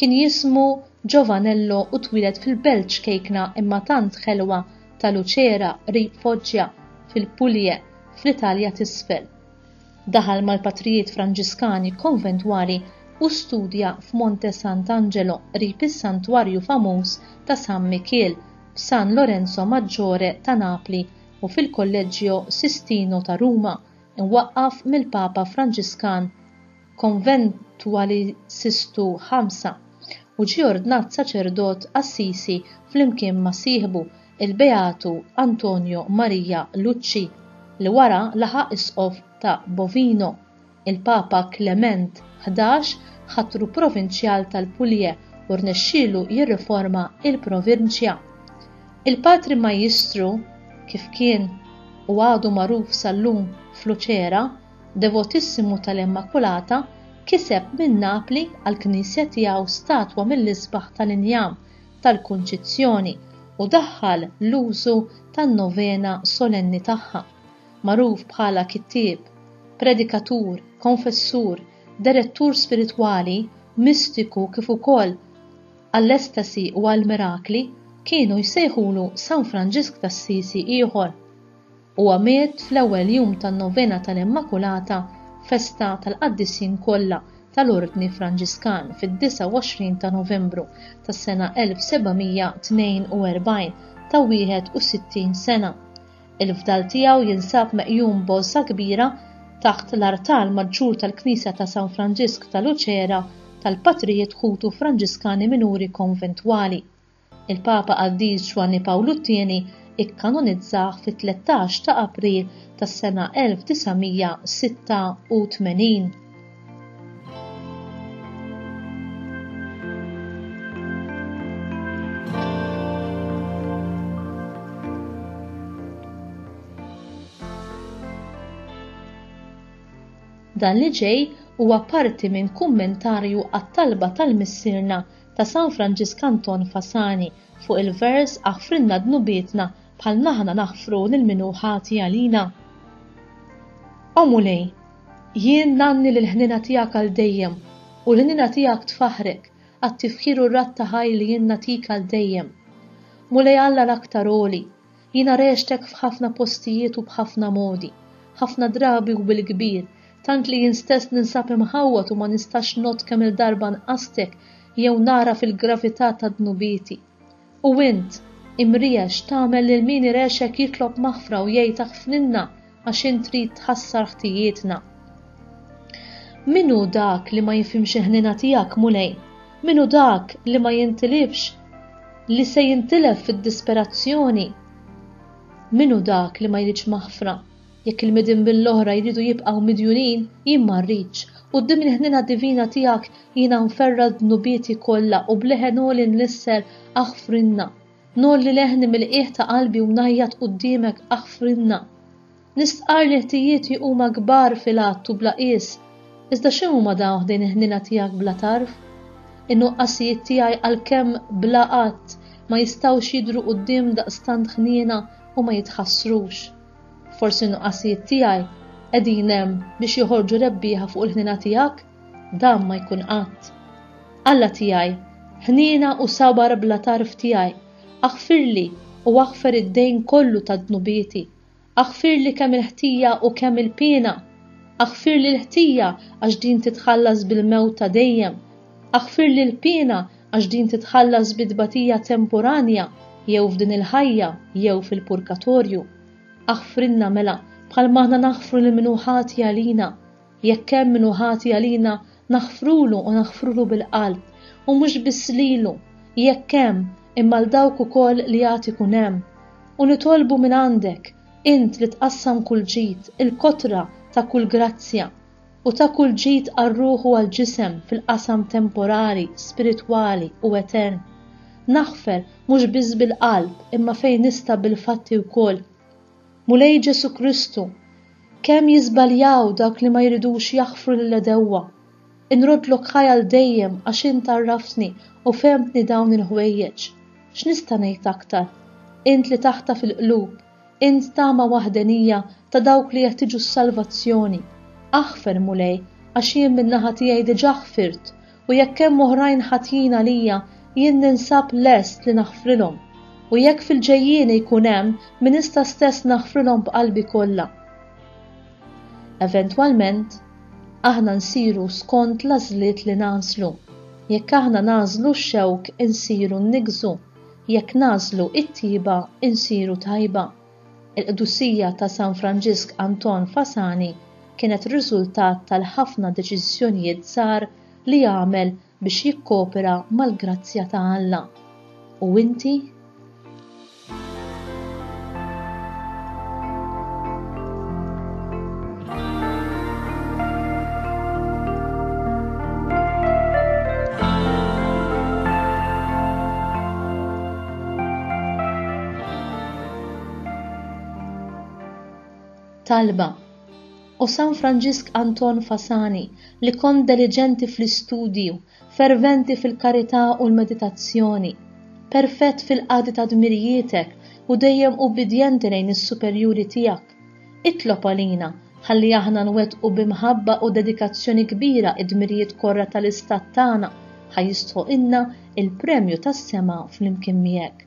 Kien jismu Giovanello u twieled fil-belt ċkejkna imma tant ħelwa ta' Lucera qrib Foggia fil-Puglie fl-Italja t'Isfel. Daħal mal-patrijiet Franġiskani konventwali u studja f'Monte Sant'Angelo qrib is-santwarju famuż ta' San Mikiel f'San Lorenzo Maggiore ta' Napli u fil-Kolleġġio Sistino ta' Ruma, imwaqqaf mill-Papa Franġiskan konventwali Sistu Xamsa, u ġie ordnat saċerdot Assisi flimkien ma' sieħbu, il-Beatu Antonio Maria Lucci, li wara laħaq Isqof ta' Bovino. Il-Papa Klement Ħdax ħatru Provinċjal tal-Puglie u rnexxielu jirriforma l-provinċja. Il-Patri Majjistru, kif kien u għadu magħruf sal-lum f'Luċera, devotissimu tal-Immakulata, kiseb minn Napli għall-knisja tiegħu statwa mill-isbaħ tal-injam tal-Kunċizzjoni u daħħal l-użu tan-novena solenni tagħha. Magħruf bħala kittieb, predikatur, konfessur, derettur spiritwali, mistiku kif ukoll għall-estasi u għall-mirakli, kienu jsejħulu San Franġisk t'Assisi ieħor. Huwa miet fl-ewwel jum tan-Novena tal-Immakulata, festa tal-Qaddisin kollha tal-Ordni Franġiskan, fid-29 ta' Novembru tas-sena 1742, ta' 61 sena. Il-fdal tiegħu jinsab meqjum b'għożża kbira taħt l-artal maġġur tal-Knisja ta' San Franġisk ta' Luċera tal-Patrijiet Ħutu Franġiskani Minuri Konventwali. Il-Papa Qaddis Ġwanni Pawlu t-Tieni ikkanonizzah fit-tlettax ta' April tas-sena 1986. Dan li ġej huwa parti minn kummentarju għat-talba tal-Missierna ta' San Franġisk Anton Fasani fuq il-vers Aħfrilna dnubietna bħalma aħna naħfru lil min hu ħati għalina. O Mulej, jien ngħanni lill-ħniena tiegħek għal dejjem u l-ħniena tiegħek tfaħħrek għat-tifħir u r-radd ta' ħajr li jien nagħtik għal dejjem. Mulej Alla l-Aktar Għoli, Jiena rextek f'ħafna postijiet u b'ħafna modi, ħafna drabi u bil-kbir, tant li jien stess ninsab imħawwad u ma nistax ngħodd kemm-il darba nqastek jew nagħraf il-gravità ta' dnubieti. U int, imriex, tagħmel lil min irexek jitlob maħfra u jgħid aħfrinna għax int trid tħassar ħtijietna. Min hu dak li ma jifhimx il-ħnina tiegħek, Mulej? Min hu dak li ma jintilifx li se jintilef fid-disperazzjoni? Min hu dak li ma jridx maħfra? Jekk il-midin bil-oħra jridu jibqgħu midjunin, jien ma rridx. Quddiem il-ħnina divina tiegħek jiena nferra d-dnubieti kollha u bleħen għoli nlissel aħfrinna. Ngħolli leħni mill-qiegħ ta' qalbi u ngħajjat quddiemek aħfrilna. Nistqarr li ħtijieti huma kbar fil-għadd u bla qies, iżda x'inhuma dawn ħdejn il-ħniena tiegħek bla tarf? In-nuqqasijiet tiegħi għalkemm bla għadd ma jistgħux jidhru quddiem daqstant ħniena u ma jitħassrux. Forsi n-nuqqasijiet tiegħi qegħdin hemm biex joħorġu rebbieħa fuq il-ħniena tiegħek? Dan ma jkun qatt. Alla tiegħi, ħniena u sabar bla tarf tiegħi, aħfirli u aħfer id-dejn kollu ta' dnubieti, aħfirli kemm il-ħtija u kemm il-piena, aħfirli l-ħtija għax din titħallas bil-mewt ta' dejjem, aħfirli l-piena għax din titħallas bi tbatija temporanja jew f'din il-ħajja jew fil-purkatorju. Aħfrilna mela bħalma aħna naħfru lil min hu ħati għalina, Jekk hemm min hu ħati għalina, naħfrulu u naħfrulu bil-qalb, u mhux biss lilu, jekk hemm, imma 'l dawk ukoll li għad ikun hemm. U nitolbu mingħandek, int li tqassam kull ġid, il-kotra ta' kull grazzja, u ta' kull ġid għar-ruħ u għall-ġisem fil-qasam temporali, spiritwali u etern. Naħfer, mhux biss bil-qalb, imma fejn nista' bil-fatti wkoll, Mulej Ġesù Kristu, kemm jiżbaljaw dawk li ma jridux jaħfru lill-għedewwa. Inroddlok ħajja għal dejjem għax int għarraftni u fehmtni dawn il-ħwejjeġ. X'nista' ngħid aktar? Int li taħtaf il-qlub, int tama waħdenija ta' dawk li jeħtieġu s-salvazzjoni. Aħfer, Mulej, għax jien min-naħa tiegħi diġà ħfirt u jekk hemm oħrajn ħatjin għalija, jien ninsab lest li naħfrilhom, u jekk fil-ġejjieni jkun hemm, minista stess naħfrilhom b'qalbi kollha. Eventwalment, aħna nsiru skont l-għażliet li nagħżlu. Jekk aħna nagħżlu x-xewk insiru nniggżu, jekk nagħżlu t-tjieba insiru tajba. Il-qdusija ta' San Franġisk Anton Fasani kienet riżultat tal-ħafna deċiżjonijiet żgħar li għamel biex jikkopera mal-grazzja ta' Alla. U inti? Talba, O San Franġisk Anton Fasani, li kont deliġenti fl-istudju, ferventi fil-karità u l-meditazzjoni, perfett fil-qadi ta' dmirijietek u dejjem ubbidjenti lejn is-superjuri tiegħek, itlob għalina ħalli aħna nwettqu bi mħabba u dedikazzjoni kbira d-dmirijiet korra tal-istat tagħna, ħa jistħoqilna l-premju tas-sema flimkien miegħek.